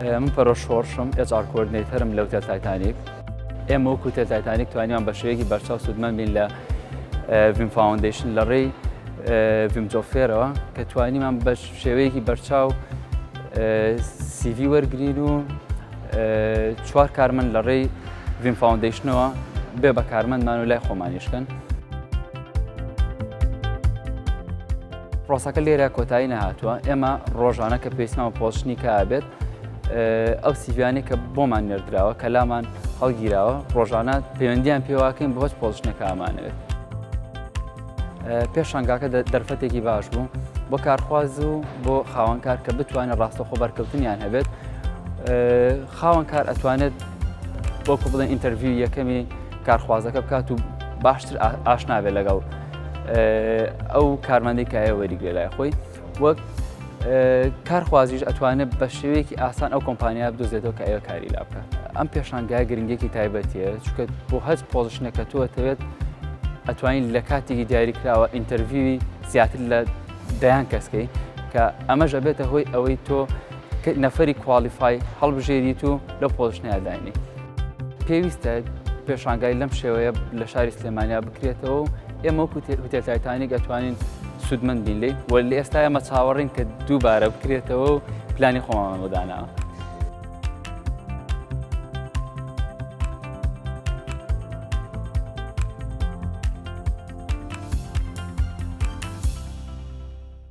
من پەرۆش شۆڕشم ئێچ ئار کۆردنەیتەرم لەو تێل تایتانیک ئێمە وەکو تێل تایتانیک توانیان بە شێوەیەکی بەرچاو سوودمەند بین لە ڤیم فاوندیشن لە ڕێی ڤیم جۆفێرەوە کە توانیمان بە شێوەیەکی بەرچاو سیڤی وەرگین و چوار کارمەند لە ڕێی ڤیم فاوندیشنەوە بێ بە کارمەندمان و لای خۆمانیشکن پرۆسەکە لێرە کۆتایی نەهاتووە ئێمە ڕۆژانە کە پێسمان پۆشنی کا بێت ئەو سیڤیانی کە بۆمان نێردراوە کە لامان هەڵگیراوە ڕۆژانە پەیوەندیان پێواکەین بۆچ پۆشنەکەمانەوێت پێشانگاکە دەرفەتێکی باش بوو بۆ کارخواز و بۆ خاوەنکار کە بتوانێت ڕاستەخۆ بەرکەوتنیان هەبێت خاوەنکار ئەتوانێت بۆکو بڵێن ئینتەرڤیو یەکەمی کارخوازەکە بکات و باشتر ئاشناوێت لەگەڵ ئەو کارمەندی کایە وەریگرێ لای خۆی وەک کارخوازیش ئەتوانێت بە شێوەیەکی ئاسان ئەو کۆمپانیا بدۆزێتەوە کە ئەوە کاری لا بکە ئەم پێشانگای گرنگێکی تایبەتیە چکە بۆ هەز پۆزشنەکە تۆ ئەتەوێت ئەتوانین لە کاتێکی دیاری کراوە ئینتەرڤوی زیاتر لە دەیان کەسکەی کە ئەمەش ئەبێتە هۆی ئەوەی تۆ نەفەری کوالیفای هەڵبژێریت و لەو پۆزشنەیە داینی پێویستە پێشانگای لەم شێوەیە لە شاری سلێمانیا بکرێتەوە و ئێمە کوتێتایتانی گەتوانین سوودمەند بین لی وە لە ئێستا ئەمە چاوەڕین کە دووبارە بکرێتەوە و پلانی خۆمان بەداناوە.